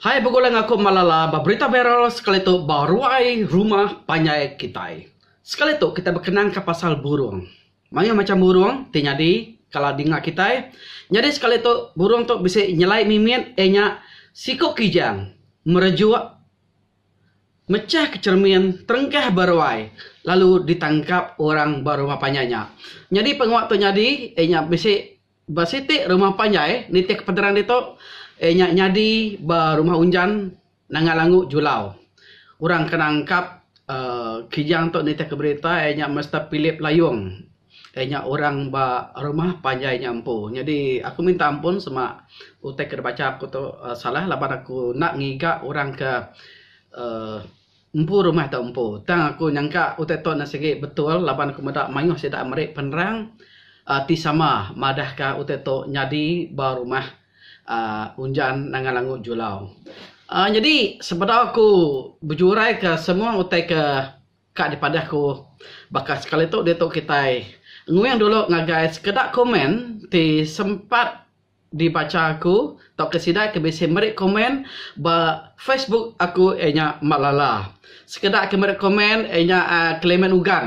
Hai begulai ngaku Malala ba berita viral sekali tu ba ruai rumah panjai kitai. Sekali tu kitai bekenangka pasal burung. Mayuh macham burung ti nyadi kala dinga kitai. Nyadi sekali tu burung tu bisi nyelai mimit iya nya siku kijang merejuk mechah ke cheremin terengkah ba ruai lalu ditangkap orang ba rumah panjai nya. Nyadi pengawa tu nyadi iya nya bisi Ba siti rumah panjai nitih pederan ditu, iya nya nyadi ba rumah unjan Nanga Langu Julau. Orang ke nangkap uhh kijang tu nitihka berita iya nya Mister Philip Layong. Iya nya orang ba rumah panjai nya empu. Nyadi aku minta ampun sema utai ke dibacha aku tu salah laban aku enda ngiga orang ke uhh Empu rumah tu empu. Tang aku nyangka utai tu enda sigi betul laban aku meda mayuh sida meri penerang ti sama madahka utai tu nyadi ba rumah uhh Unjan Nangan Langu Julau. uhh nyadi sebedau aku bejuraika semua utai ke ka dipadah ku baka sekali tu diatu kitai nguing dulu ngagai sekeda komen ti sempat dibacha aku tauka sida ke bisi meri komen ba facebook aku iya nya Mak Lala. Sekeda ke meri komen iya nya uhh Clement Ugan.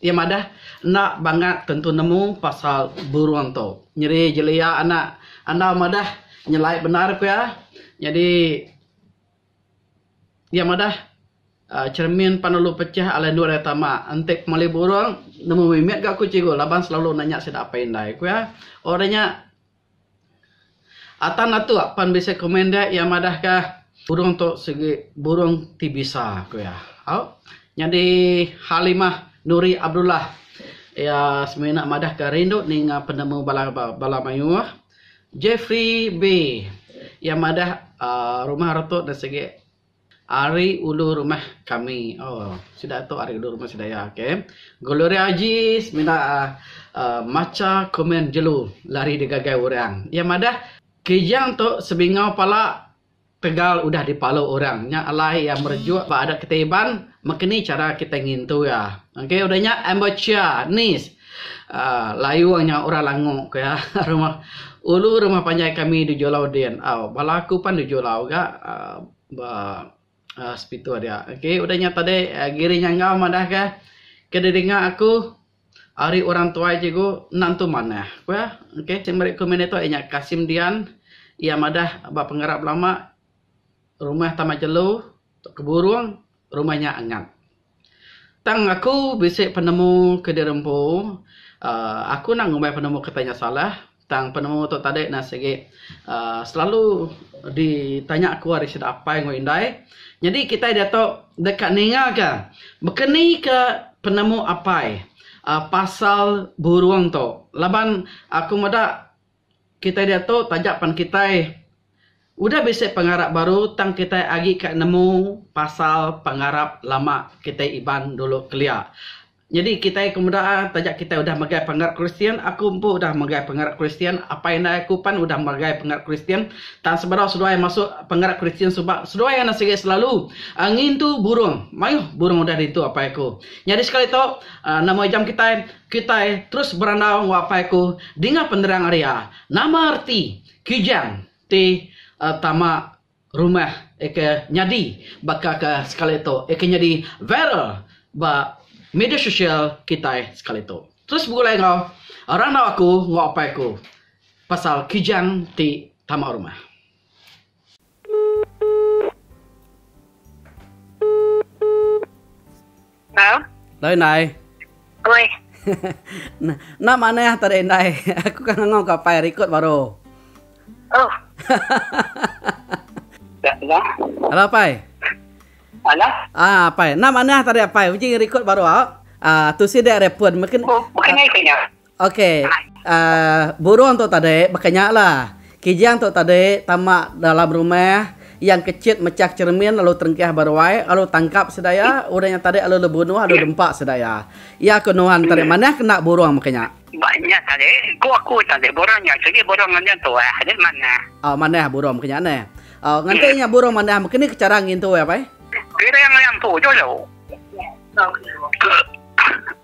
Iya madah enda bangat tentu nemu pasal burung tu. Nyeri jelia anak andau madah nyelai bendar ku iya. Nyadi. Iya madah uhh cermin pan ulu pecah alai endur iya tama enti pemali burung nemu mimit ga ku cikgu laban selalu nanya sida apai indai ku iya. Oh udah nya atan atuk pan bisi komen dia iya madah ka burung tu sigi burung ti bisa ku iya. Au nyadi Halimah Nuri Abdullah iya semina madah ka rindu ninga penemu bala bala mayuh. Jeffrey Bee, iya madah rumah reto da sigi ari ulu rumah kami. Ooh sida tu ari ulu rumah sida iya okay. Gloria Ajis mina uhh macha komen jelu lari digagai orang. Iya madah Kijang tu sebingau pala. Tegal udah dipalu orang nya alai iya merejuk ba adat kitai Iban meka ni chara kitai ngintu iya. Okey udah nya ambuchia ni uhh layung nya orang langu ku iya rumah ulu rumah panjai kami di julau din au bala aku pan di julau ga uhh ba uhh Sepitu dia. Okey udah nya tadi Giri Nyangau madah ka ke didinga aku. Ari orang tuai cikgu enda entu manah ku iya. Ok sik meri komen ditu iya nya Kasim Dian iya madah ba pengerap lama rumah Taman Jelu tu ke Burong rumah nya angat. Tang aku bisi penemu ke di rempu uhh aku enda ngumbai penemu kitai nya salah. Tang penemu tu tadi ne sigi aaa selalu ditanya aku ari sida apai enggau indai. Nyadi kitai diatu deka ningaka bekeni ke penemu apai aaa pasal burung tu laban aku meda kitai diatu taja pen kitai udah bisi pengarap baru tang kitai agi ka nemu pasal pengarap lama kitai Iban dulu kelia. Nyadi kitai ke meda taja kitai udah megai pengarap Kristian, aku empu udah megai pengarap Kristian, apai indai aku pan udah megai pengarap Kristian, tang sebedau seduai masu pengarap Kristian suba seduai anak sigi selalu ngintu burung. Mayuh burung udah diintu apai aku. Nyadi sekali tu, nama ijam kitai? Kitai terus berandau enggau apai aku dinga penerang ari iya. Nama reti kijang ti tama rumah eka nyadi baka ka sekali tu eka nyadi viral ba media sosial kitai sekali tu. Terus begulai enggau randau aku enggau apai aku pasal Kijang ti tama rumah. Hello. Hello Indai. Oi. Nak manah tadi Indai. Aku kan ngau ka pai record baru. Oh. Ya, ya. Hello pai. Hello. Ah, pai. Nak manah tadi pai. Uji record baru ah. Ah, tu si dek repon mungkin. Oh, bukan ai punya. Ok burung tu tadi baka nya la. Kijang tu tadi tama dalam rumah yang kecit mechah cermin lalu terengkah ba ruai lalu tangkap sida iya orang yang tadi lalu bunuh lalu dempa sida iya. Iya ko nuan tadi manah kena burung maka nya. Ba nya tadi ko aku tadi burung nya sigi burung ngenjing tuah nya manah. Oh manah burung maka nya neh. Oh nganti nya burung manah maka ni chara ngintu iya pai? Piring lempu dulu.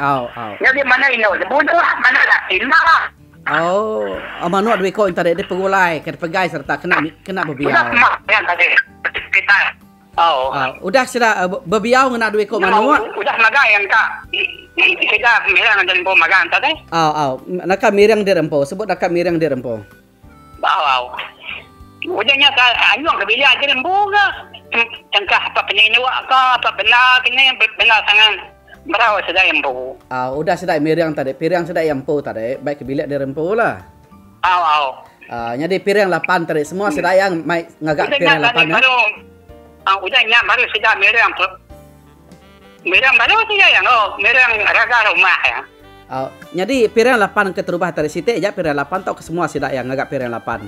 Au au. Nya dia manah indu ne bunuh manah laki enda. Au au manuk dua iko inta dek dipegulai ke dipegai sereta kena kena bebiau. Udah kemak nya tadi kitai. Au au. Udah sida bebiau ngena dua iko manuk. Udah magai engka sida mirang dek empu magang tadi. Au au. Naka mirang dek empu sebut naka mirang dek empu. Bau. Udah nya ka anyung ke bilik aja lembu ka. Tengkah apat penindu ka apat benda ke ni benda sangat merau sedai empu. Au. Udah sedai miring tadi piring sedai iya empu tadi bai ke bilik diri empu la. Au au. Au. Nyadi piring lapan tadi semua sedai iya mai ngaga piring lapan nya. Udah nya baru sida miring. Mirang balu ti iya iya. Oh, mirang raga rumah iya. Oh, nyadi pirang lapan ke terubah tadi siti aja pirang lapan tauka semua sida iya ngaga pirang lapan?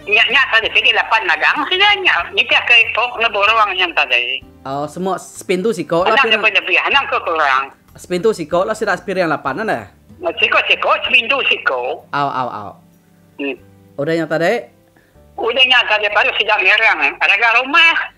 Nya nya tadi sigi lapan nagang sida nya nitihka iku ngena burung nya tadi. Oh, semua sepintu siko lah pirang. Anang lebih-lebih anang ke kurang. Sepintu siko lah sida pirang lapan nya neh. Siko siko sepintu siko. Au au au. Udah nya tadi? Udah nya tadi baru sida mirang raga rumah.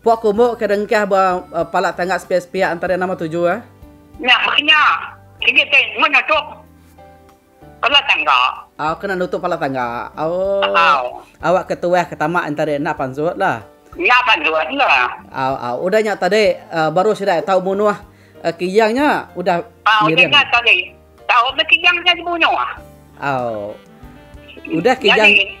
Puak kumuk ke dengkah ba pala tangga sepiak-sepiak enta dia nama tuju eh. Nya meh nya. Sigi ti meh nutup pala tangga. Au kena nutup pala tangga. Au. Awak ke tuah ke tama enta dia enda pansut lah. Enda pansut lah. Au au udah nya tadi baru sida tau munuh Kiyang nya udah ngiring. Udah nya tadi tau meh Kiyang nya dibunuh. Au. Udah Kiyang. Nyadi.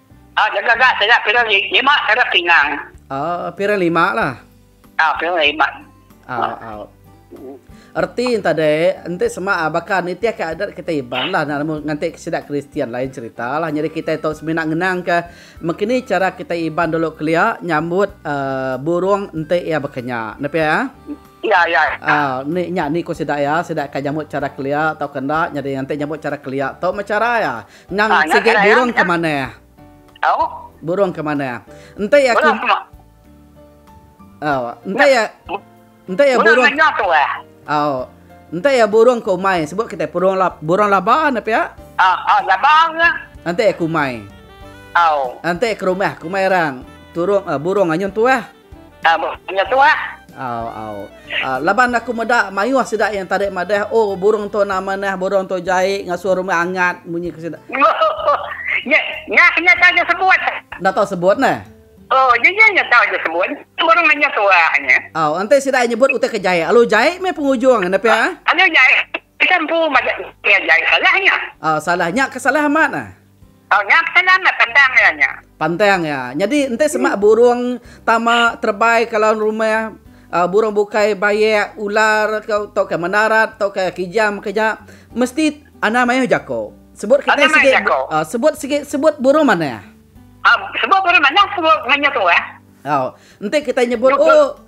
Ah jaga ga sida pira lima kada pinang. Ah pira lima lah. Ah pira lima. Ah ah. Erti enta deh, enti sema baka nitih ka adat kitai Iban lah nganti sida Kristian lain cerita lah. Nyadi kitai tu semina ngenang ka mekini cara kitai Iban dulu kelia nyambut ah burung enti iya bekenya. Enda pia ah? Iya iya. Ah ni nya ni ku sida iya, sida ka nyambut cara kelia tauka enda. Nyadi enti nyambut cara kelia tu meh cara iya. Endang sigi burung ke mana? Au? Burung ke mana? Enti aku Burung semua. Oh, enti ya enti ya burung. Burung nyok tu eh. Oh. Enti ya burung ke umai sebut kita burung lab burung laba ne pia. Ah, ah laba ke? Enti aku umai. Au. Enti ke rumah, ke rumah orang. Turung uh, burung anyun tuah. Ah burung nya tu ah. Au au. Uh, laban aku meda mayuh sida yang tadi madah, oh burung tu na manah, burung tu jai ngasuh rumah angat munyi ke sida. Nya nya nya tahu je sebut. Dah tahu sebut nah. Oh, nya nya nya tahu je sebut. Burung nya tu ah nya. Au, ante sida nyebut utai ke jai. Alu jai meh pengujung nepi ah. Alu jai. Pia empu majak diri aja ai salah nya. Au salah nya ke salah amat ah. Au nya ke salah amat pandang iya nya. Pandang iya. Nyadi enti semak burung tama terebai ke laun rumah au burung bukai bayak ular ke tauka menarat tauka kijang ke nya mesti anang mayuh jako. Sebut kitai sigi au sebut sigi sebut burung manah. Au sebut burung manah sebut mayuh tuah. Au enti kitai nyebut oh.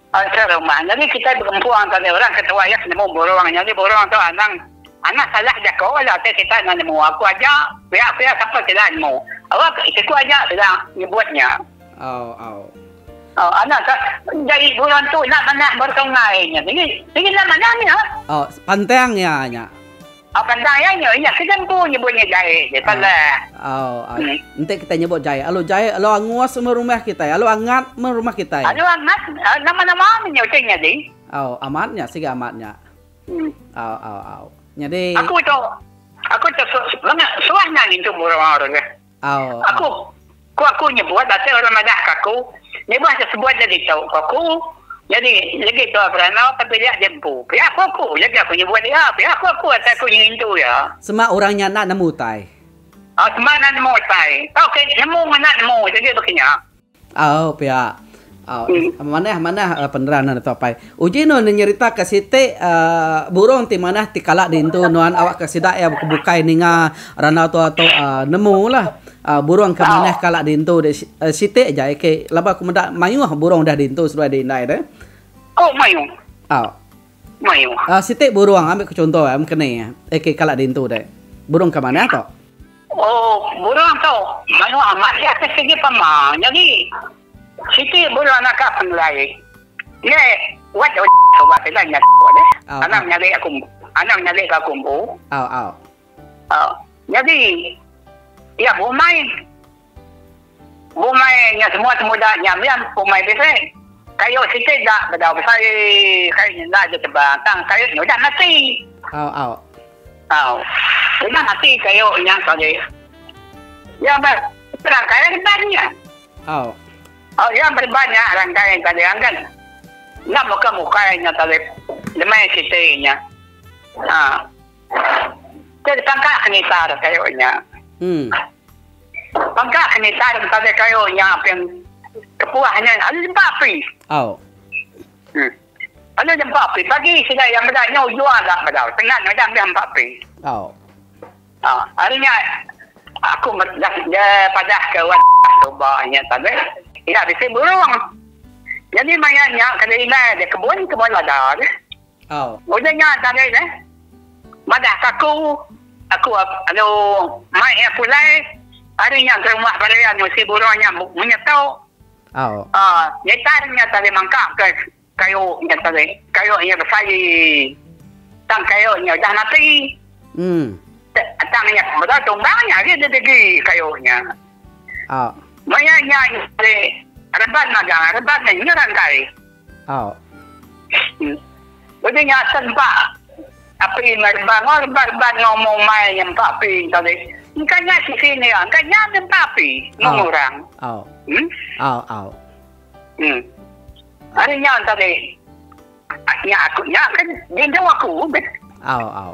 Pasal rumah nyadi kitai begempung antara dua orang ketua iya ke nemu burung nyadi burung tu anang anang salah jako la utai kitai enda nemu aku aja pia pia sapa sila nemu awa ke siku aja sila nyebut nya anang ka nyadi burung tu enda manah ba sungai nya sigi sigi enda manah nya. Pantang iya nya. Au kandang iya nya. Iya ke jempu nyebut nya jai je salah. Au au. Enti kitai nyebut jai alu jai alu angus meh rumah kitai alu angat meh rumah kitai. Alu angat nama nama nya utai nya deh. Au amat nya siga amat nya. Au au au. Nyadi. Aku tu aku tu suah nang ngintu burung au tu. Au. Aku. Ku aku nyebut baka orang madah ka aku, Nibah ke sebuat nyadi tu, ku aku. Nyadi, legi tua berana tapi dia agi empu. Pia ku aku, legi aku nyebut dia. Pia ku aku asai aku ngintu iya. Sema orang nya enda nemu utai. Au, sema enda nemu utai. Tauka nemu ngena nemu, jadi baka nya. Au pia. Au manah manah penerang nuan tu apai. Uji nuan nyerita ka siti burong ti manah ti kala diintu nuan awakka sida iya ke bukai ninga randau tua tu nemu lah burong ke manah kala diintu deh siti aja ke laban aku meda mayuh burong dah diintu seduai di indai deh. Au mayuh. Au mayuh. Siti burong ambi ku chunto mengkeni ke kala diintu deh. Burong ke manah tu. Oh, burung tu maioh amat iya ke sigi pama nyadi. Siti burung naka pengelai. Ye, wat deh udah suba sida nya tu deh. Anang nyadi aku anang nyadi ke aku empu. Au au. Au. Nyadi iya bumai. Umai nya semua temuda nya mih umai bilik. Kayu siti da bedau besai. Kayu nya enda aja tebang tang kayu nya udah mati. Au au. Au. Udah mati kayu nya tadi. Iya ba rangkai reban nya. Au. Au iya ba reban nya rangkai tadi anggan. Enda muka mukai nya tadi. Demai siti nya. Ha. Ke dipangka senitar kayu nya. Hmm. Pangka ke nitan betaja kayu nya aping kepuah nya alu jempa api. Au. Huh. Alu jempa api pagi sida iya meda nyau jua ga bedau tengan meda ambis empa api. Au. Ha, ari nya aku medah je padah ke wan tu ba nya tadi. Ida bisi burung. Jadi maya nya kada indai aja kebun, kebun lada aja. Au. Udah nya tanggei ne. Madah ka aku. Aku anu mai iya pulai. Ari nya gerumah barai anu si burung nya munyi tau. Au. Aa ngitan nya tadi mangka ke kayu nya tadi. Kayu nya besai. Tang kayu nya udah mati. Em. Tang nya meda tumbang nya agi didigi kayu nya. Au. Maya nya ari reban magang. Reban nya ngeran kai. Aw. Udah nya asen ba api enggau reban aw reban reban enggau umai umai nya empa api engka ulih engka nya sisi enda iya engka nya nya empa api mung orang. Aw. Em. Aw aw. Em. Ari nya engka ulih nya aku nya kan dindu aku meh. Aw aw.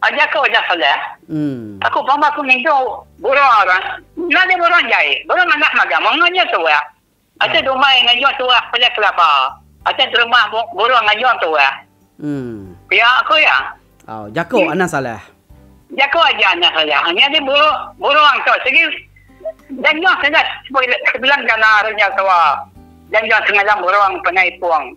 Aja ke udah Soleh. Aku pama aku ngintu burung orang. Nya ade burung jai. Burung anak magang menga nya tuah. Acha dumai ngajung tuah pelih kelaba. Acha terubah burung ngajung tuah. Pia aku iya. Au jaku anak Soleh. Jaku aja anak Soleh. Nya ade burung tu sigi janjung sida sebilang gana ari nya tuah. Janjung semalam burung panai ipung.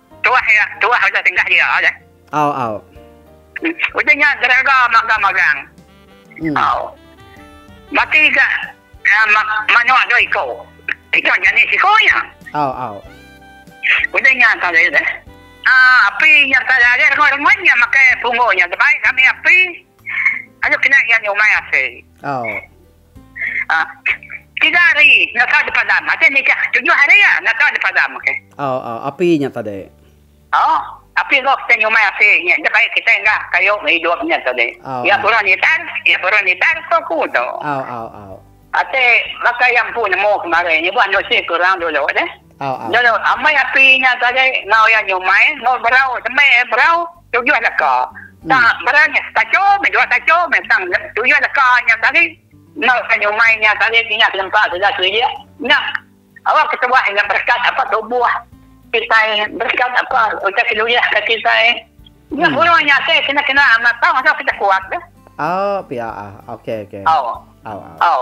Tuah iya, tuah udah dengah dia aja. Au au. Udah nya gerega magang magang. Au. Mati ga manok dua iko. Iko jani siko nya. Au au. Udah nya tadi udah. Aa api nya tadi agi rengoi rengoi nya makai pungo nya tebai kami api. Aja kena iya nyumai asai. Au. Tiga hari nyata dipadam. Aja nitih tujuh hari ya nyata dipadam okey. Au au api nya tadi. Au api roh kita nyumai api nya enda baik kita enda kayu hidup nya tadi. Iya purun nitan iya purun nitan ko aku tu. Au au au. Ati baka iya empu nemu kemari nyebut anu isi ke orang dulu deh. Nya lo amai api nya sagai ngau iya nyumai enggau berau semai ai berau tujuh leka tang berau nya tacho meh dua tacho meh tang tujuh leka nya tadi enggau iya nyumai nya tadi tingah selempa tuda selidik nya awa ketuah nya berkat apa tubuh kitai berkat apa utai keluah ka kitai nya buruh nya ake kena kena amat tau asal kita kuat ka. Au pia au ok ok au au au.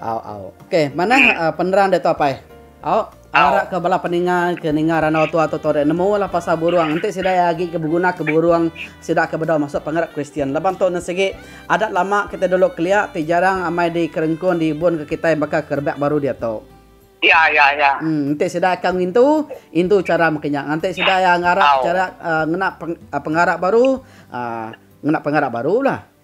Au au. Okey, manah penerang diatu apai. Au, arak ke bala peninga ke ninga randau tua tu torek nemu lah pasal burung. Enti sida iya agi ke beguna ke burung sida ke bedau masuk pengarap Kristian. Laban tu ne sigi adat lama kitai dulu kelia ti jarang amai di kerengkun di ibun ke kitai baka ke rebak baru diatu. Iya iya iya. Em, enti sida ka ngintu, intu chara meki nya. Nganti sida iya ngarap chara ngena pengarap baru, ah ngena pengarap baru lah.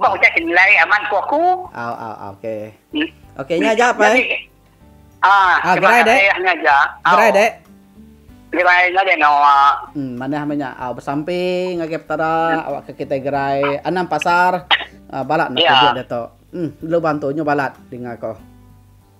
Bah utai ke nilai amat ku aku. Au au au okey. Okey nya aja pai. Jadi ah terima kasih nya aja. Gerai dek. Gerai nya dek no. Hmm manah meh nya au besampi ngagai petara awak ke kitai gerai anang pasar balat enda tujek diatu. Hmm lalu bantu nyu balat dinga ko.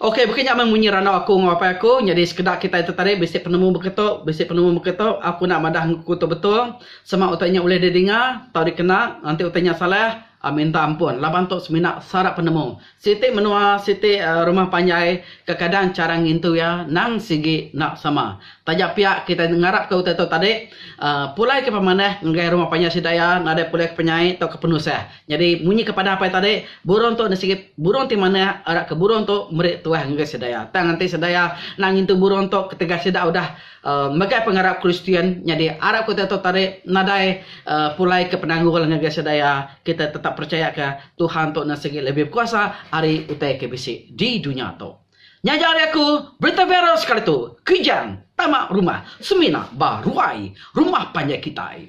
Okey baka nya meh munyi randau aku enggau apai aku nyadi sekeda kitai ti tadi bisi penemu baka tu bisi penemu baka tu aku enda madah aku tu betul sama utai nya ulih didinga tau dikena enti utai nya salah minta ampun laban tu semina sara penemu siti menua siti rumah panjai kekadang chara ngintu iya nang sigi enda sama taja pia kitai ngarap ka utai tu tadi pulai ka pemanah ngagai rumah panjai sida iya nadai pulai ka penyai tau ka penusah Nyadi, munyi ke padang apai tadi, burung tu enda sigit burung ti manah arak ke burung tu meri tuah ngagai sedaya. Tang enti sedaya enda ngintu burung tu ketegal sida udah megai pengarap Kristian, nyadi arap kita tu tadi nadai pulai ke penanggul ngagai sedaya. Kita tetap percaya ke Tuhan tu enda sigi lebih bekuasa ari utai ke bisi di dunya tu. Nya aja ari aku, berita viral sekali tu, Kijang, tama rumah, semina ba ruai rumah panjai kitai.